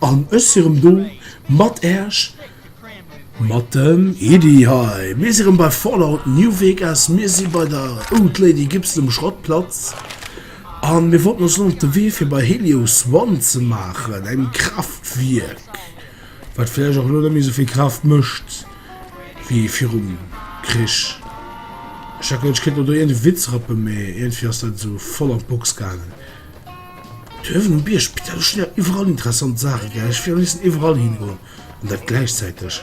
An ech si rëm do mat Äerch, mat dem Iddhi hei. Mir si rëm bei Fallout New Vegas, mir si bei der Old Lady Gibson um Schrottplatz. A mir wollten ons elo op de Wee fir bei Helios One ze maachen, engem Kraaftwierk, wat vläicht och elo net méi esou vill Kraaft mécht wéi virum Krich. Ech hat geduecht, ech kéint mer do iergendee Witz rëppen, mee iergendwéi ass dat esou voll an d'Box gaangen. D'Höwen um Bierg, putain, do stinn awer iwwerall interessant Saachen, gell? Ech wéilt am léifsten iwwerall hingoen, an dat gläichzäiteg.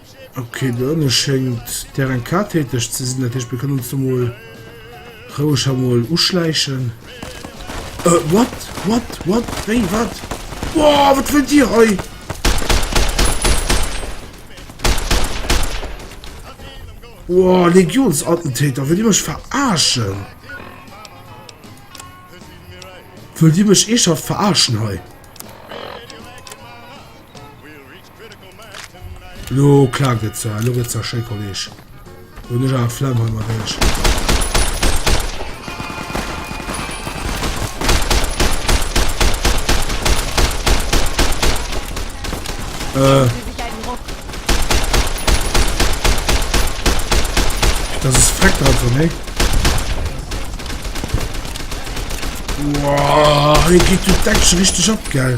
Okay, do ënne schéngt d'RNK täteg ze sinn, dat heescht, mir kënnen uns do mol roueg ha mol uschläichen. Äh, what? What? What? Wéi? Wat? Boah, wat wëllt Dir hei? Boah, Legionsattentäter, wëllt Dir mech verarschen? Wëllt Dir mech eeschaft verarschen hei? Lo klaakt et zwar, elo gëtt zwar schéi Kolleg. Lo hunn ech awer Flemm hei mat iech. Dat ass freck dran vu méi. Hei geet jo d'Action richteg ab, gell?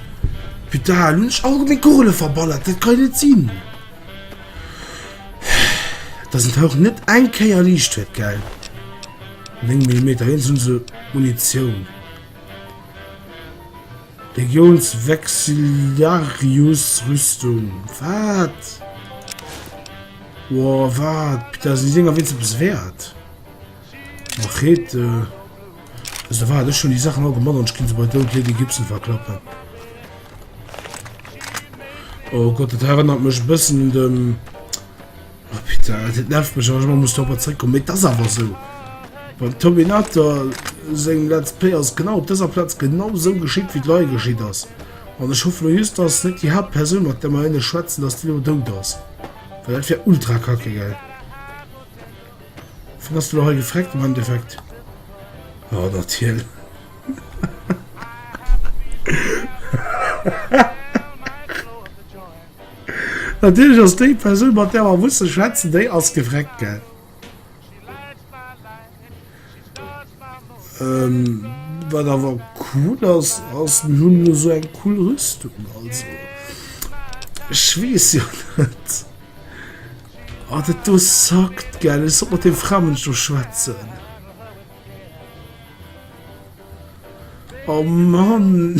Putain, elo hunn ech all meng Kugele verballert, dat kann jo net sinn! Dass en d'Houch net eng Kéier liicht huet, gell? 9 Millimeter, wéinst hunn se Munitioun. Legiones Vexillarius Rüstung, wat? Woah, wat? Putain, sinn déi Dinger wéinst eppes wäert? Machete ass der Wahrheit, ech hun déi Sachen all gemat an ech gin se bei doud Lady Gibson verklappen. Oh Gott, dat erënnert mech e bëssen un dem... Oh Peter, dat nervt mech, wann ech ëmmer muss dorobber zréckkommen, mee et ass awer esou. Beim Terminator seng Let's Play ass genau op dëser Plaz genau esou geschitt, wéi et elo hei geschitt ass. An ech hoffe elo just, dass net déi Haaptpersoun, mat där mer elo schwätzen, dass déi elo dout ass, well dat wär ultra kacke, gell. Vu bass de lo hei gefreckt am Endeffekt? Jo, dat hien. Natierlech ass déi Persoun, mat där mer musse schwätzen, déi ass gefreckt, gell? Ähm, wat awer cool ass, ass mir hunn elo esou eng cool Rüstung. Also ech weess jo net. Ah, dat do sackt, gell. Ech sollt mat deem Framënsch do schwätzen. Oh Mann!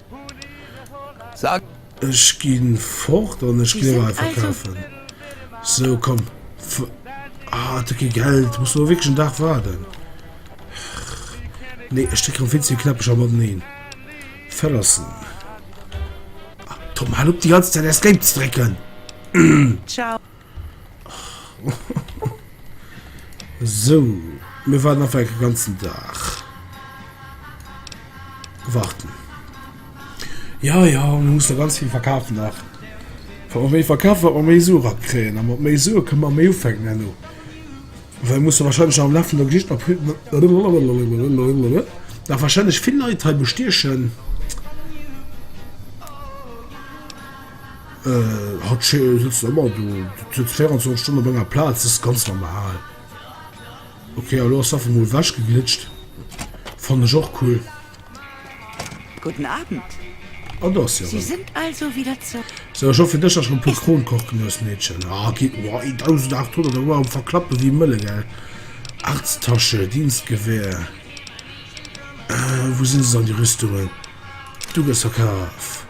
Ech gi fort an ech gleewen einfach kafen. Sou komm ah et gi Geld muss lo wierklech en Dag waarden nee ech drécken vill ze vill Knäppecher mateneen verlassen Tom hal op déi ganz Zäit Escape ze drécken. So, mir waren einfach den ganzen Tag. Warten. Ja, ja, man muss da ganz viel verkaufen nach. Wenn man mehr verkauft, wird man mehr Sue abkriegen. Und mit mehr Sue können wir mehr aufhängen, Enno. Weil wir müssen wahrscheinlich am Laufe der Geschichte noch viel... Da wahrscheinlich viele Leute hier bestechen. Haut sëtzt der ëmmer do, sëtzt 24 Stonn op enger Plaz, dat ass ganz normal. Ok elo ass se einfach mol ewech geglitscht, fannen ech och cool. Gudden Abend, Sie sind also wieder zurück. Sou ech hoff fir dech dass ech rem puer Kronen koch gin hues Meedchen. Ahh ok, eeh 1800 Euro am verklappen wéi Mëlle gell. Arzttasche, Dienstgewehr, ahh wou sin se dann déi Rüstungen? Du gëss verkaf.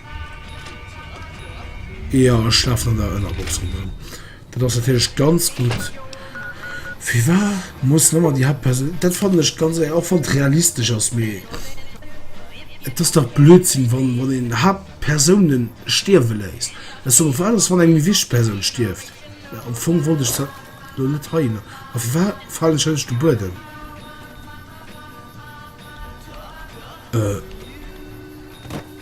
Ja ech lafen an der Ënnerbox ronderem. Dat ass natierlech ganz gutt. Firwar muss nëmmer déi Haaptpersoun. Dat fannen ech ganz éier, och wann et realistesch ass, mee et ass dach Blödsinn, wann wann een Haaptpersoune stierwe léisst. Ech soe wat ass, wann eng méi wichteg Persoun stierft? Mä am Fong wollt ech dat do net heihinner. A firwar falen ech hënnescht de Buedem? Äh.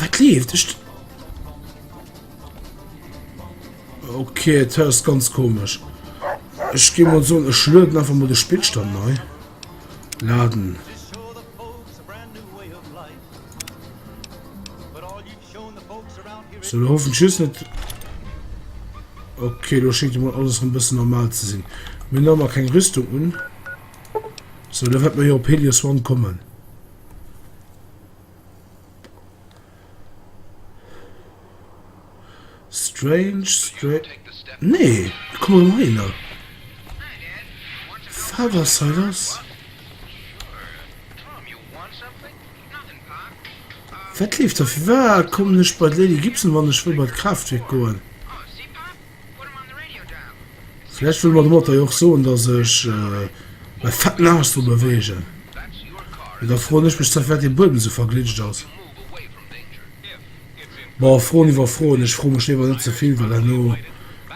Wat leeft? Ech... Okay, et hörst ganz komisch. Ech gi mal so, ech löden einfach mal de Spielstand neu. Laden. So, da hoffen tschüss net. Okay, lo schenkt mal alles ein bisschen normal zu sinn. Mir nommer keng Rüstung un. So, da wird mir hier op Helios One kommen. Strange, strange. Nee, komm mal hin. Father Silas. Wat leeft da? Wie war? Komm nicht bei Lady Gibson, wann ich will bei Kraftwerk goen. Vläicht wëlle mer domatter jo och soen, dass ech mäi Fett nagesch dru beweegen. Mee da froen ech mech, zerwärt dee Buedem esou verglitscht ass. Bon, Froen iwwer Froen. Ech froe mech léiwer net ze vill, well herno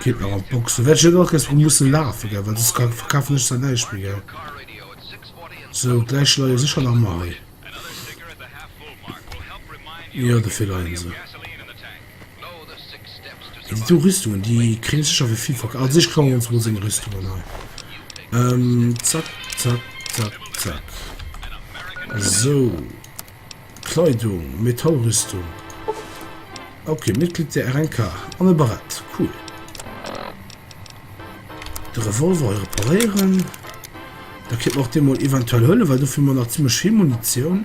geet nach an d'Box. Do wäert ech jo dann och kéins dru musse lafen, gell, well soss ka verkafen ech zwar näischt méi, gell. Sou, d'Läich leie jo sécher nach ëmmer hei. Jo, de Fehler, Hänse. Déi do Rüstungen déi kréien sécher wéi vill verkaf. Also ech klauen mir ons mol seng Rüstungen hei. Zack, zack, zack, zack. Esou. Kleidung, Metallrüstung. Ok, Mitglied der RNK. An e Barett. Cool. De Revolver hei reparéieren. Da kéint mer och dee mol eventuell huelen, well dofir hu mer nach zimmlech vill Munitioun.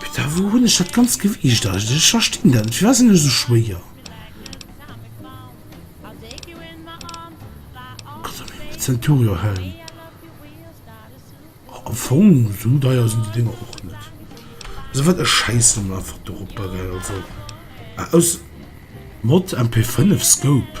Putain, wou hunn ech dat ganzt Gewiicht eigentlech? Ech verstinn dat net. Firwat sinn ech esou schwéier? Centuriohelm. Am Fong esou deier sinn déi Dinger och net. Also wat, ech schäissen emol einfach dorop, bagel. Also aus Mod MP5 Scope.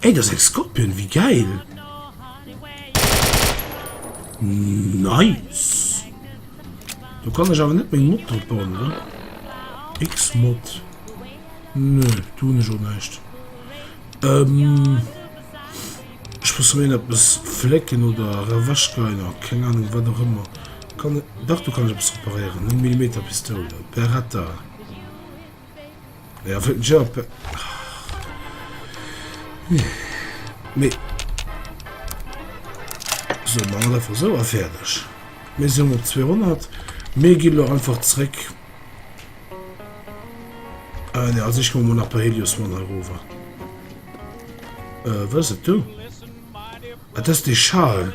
Ey dass eng Scorpion, wéi gäil! Nice! Do kann ech awer net meng Mod drop bauen, oder? Xmod. Nö, do hunn ech och näischt. Ähm. Ech muss meen eppes flécken oder erewechgeiner, keng Ahnung, wat och ëmmer. Kann. Dach do kann ech eppes reparéieren. 9 Millimeter Pistoul. Beretta. Ja, für den Job. Nee. So, machen wir einfach so fertig. Wir sind um 200. Wir gehen doch einfach zurück. Äh, ne, also ich komme nach bei Helios von Harova. Äh, was ist du? Ah, das ist die Schale.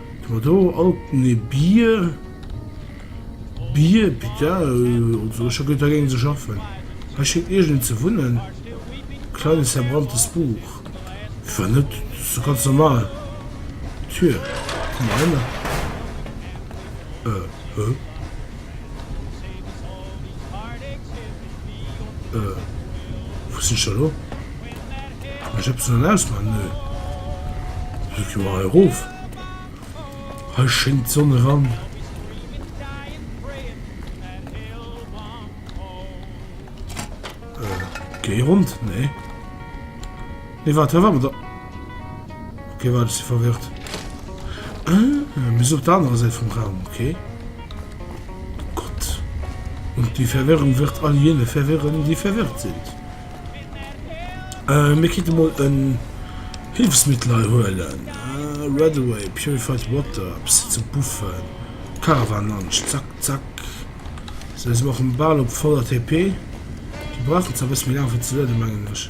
Hu do alten e Bier Bier bitte also ech hu guer dergéint ze schaffen hei schéngt iergend ze wunnen kleines verbranntes Buch war net so ganz normal d'Tür komm mer hei mer äh höh. Äh, wou sinn ech da lo? Kann ech eppes sollen ausmachen? Nö. Ech gi mol hei erof. Hei schéngt d'Sonn eran. Äh, géi Rond? Nee. Nee waart, hei war mer der. Ok waart, ech si verwirrt. Ah, mir sinn op der anerer Säit vum Raum, ok. Oh Gott. Und die Verwirrung wird all jene verwirren, die verwirrt sind. Äh, mir kéinte mol en Hillfsmittel hei huelen. Ah, Redaway, Purified Water, e bëssi ze buffen. Caravan Lunch, zack, zack. Sou, si mer och bal op voller TP. Déi brauchen zwar e bëssi méi laang fir ze lueden, mengen ech.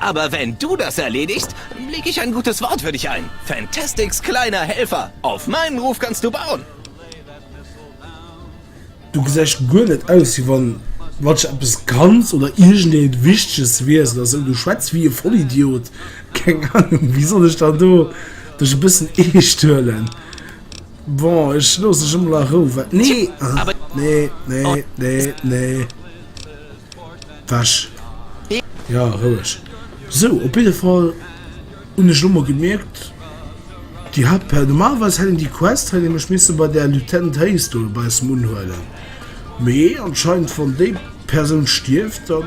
Aber wenn du das erledigst, leg ich ein gutes Wort für dich ein, Fantastics kleiner Helfer! Auf meinen Ruf kannst du bauen! Du gesäis guer net aus wéi wann watch eppes kanns oder iergendeent wichteges wiers oder sou. Du schwätz wéi e Vollidiot. Keng Ahnung wéi soll ech dann do dech e bëssen eescht huelen. Bon ech looss dech emol a Rou. Wat? Nee! Nee nee nee nee. Wäsch. Ja, roueg. Sou, op jidde Fall hunn ech elo mol gemierkt, déi hat per. Normalerweis hätt een déi Quest, hätt ee mech misse bei där Lieutenant Hayes do dobaussen unhuelen, mee anscheinend, wann déi Persoun stierft, da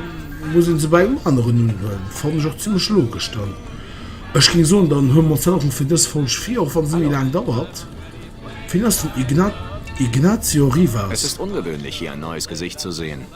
muss ee se bei engem aneren unhuelen. Fannen ech och zimmlech logesch. Dann, ech géing soen, dann huele mer ons dat och net fir dës Folg vir, och wa se méi laang dauert. Wien ass den Igna. Ignacio Rivas? Es ist ungewöhnlich, hier ein neues Gesicht zu sehen.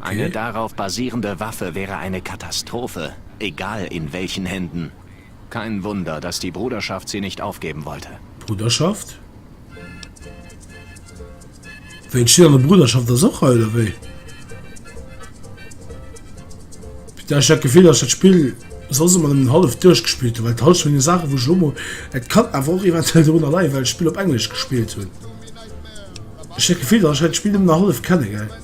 Eine darauf basierende Waffe wäre eine Katastrophe, egal in welchen Händen. Kein Wunder, dass die Bruderschaft sie nicht aufgeben wollte. Bruderschaft? Wéi entsteet an der Bruderschaft ass och hei, oder wéi? Putain, ech hat d'Gefill, dass ech dat Spill soss ëmmer nëmmen hallef duerchgespillt hunn, well d'Halscht vun den Saachen, wou ech elo mol, et kann awer och eventuell dorunner leien, well ech d'Spill op Englesch gespillt hunn, ech hat d'Gefill, dass ech hei d'Spill nëmmen nach hallef kenne, gell?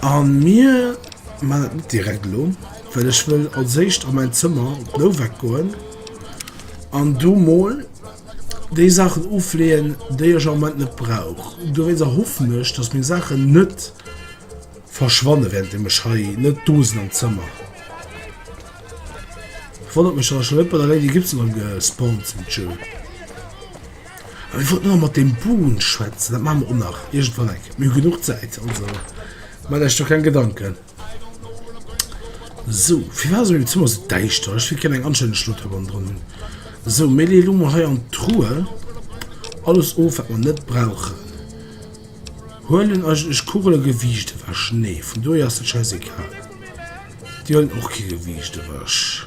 An mir man dat net direkt elo well ech wëll als éischt a mäin Zëmmer op d'Nowak goen an do mol déi Saachen ofleeën déi ech am Moment net brauch. Dowéinster hoffen ech dass meng Saachen net verschwanne während deem ech hei net do sinn am Zëmmer. Wonnert mech dass ech scho net bei der Lady Gibbs erëm gespawnt sinn. Tjo. Ech wollt nëmme mat deem Boon schwätzen, dat maache mer och nach iergendwann eng Kéier. Mir hu genuch Zäit, also maacht Iech do keng Gedanken. Sou, firwat ass an mengem Zëmmer esou däischter? Ech wéilt gär eng anstänneg Statue hannendrun hunn. Sou, mir leeë lo mol hei an d'Truhe alles of, wat mer net brauchen. Huelen eigentlech Kugele Gewiicht ewech? Nee, vun dohier ass dat schäisegal. Déi huelen och kee Gewiicht ewech.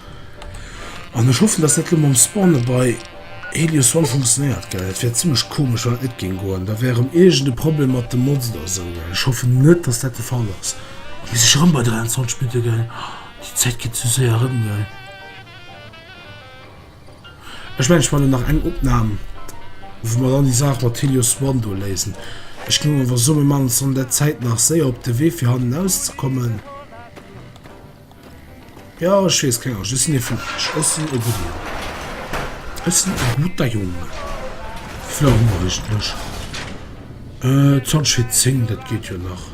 An ech hoffen dass dat elo mam Spawne bei Helios One funktionéiert gell, dat wär zimlech komesch wann dat net géing goen, da wär erëm iergend e Problem mat de Mods oder esou gell. Ech hoffen net dass dat de Fall ass. Ech hu sech erëm bei 23 Minutte gell, déi Zäit geet esou séier erëm gell. Ech mengen ech man elo nach eng Opnahm wou mer dann déi Saach mat Helios One do léisen. Ech ginn elo awer soen mir man ons dann an där Zäit nach séier op de Wee fir hannen aus ze kommen. Jo ech wees keng Angscht ech sinn ee vun Esch ech sinn ee gudde Jong ech sinn ee gutter Jong Flou Nuecht Mësch Zonschi 10 dat geet jo nach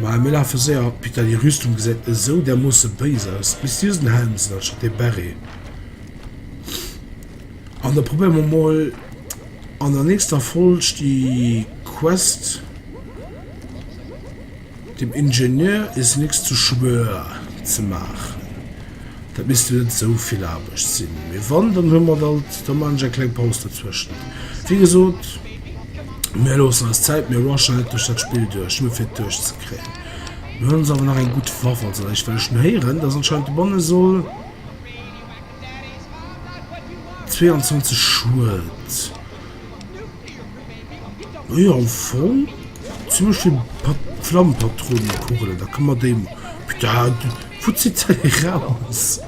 ma mir lafe séier Peter déi Rüstung gesäit esou dermoosse béis aus bis si den Helm sinn anstatt dee Beret an da probéiere mer mol an der nächster Folg déi Quest. Dem Ingenieur is nix zu schwör ze maachen, dat misst jo net esou vill Aarbecht sinn, mee wann, dann hu mer alt, da man ech eng kleng Paus dozwëschent. Wéi gesot, mir loossen eis Zäit, mir rushen net duerch dat Spill duerch, nuer fir et duerchzekréien. Mir hunn ons awer nach eng gutt Waff als eréischt, well ech schon héieren, dass anscheinend de Banne soll 22 Schued. Naja am Fong zum Beispill Flammpatronekugelen, da ka mer déi, wou zitt se déi eraus?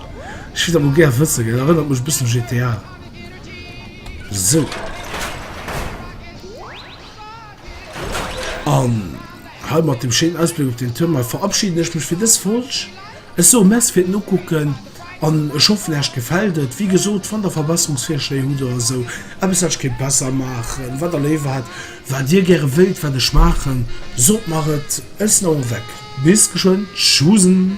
Ech wier dat mol gär wëssen, dat erënnert mech e bëssen u GTA. Sou. An hei mat deem schéinen Ausbléck op den Tournois verabschiden ech mech fir dës Folg. Ech soe Merci fir den Ukucken an ech hoffen Äech gefällt et. Wéi gesot, wann der Verbesserungsvirschléi hutt oder esou eppes wat ech kéint besser maachen, wat der léiwer hätt, wat dir gäre wéilt wat ech maachen, sot mer et. Ech sinn awer weg. Bis geschwënn. Tschusn.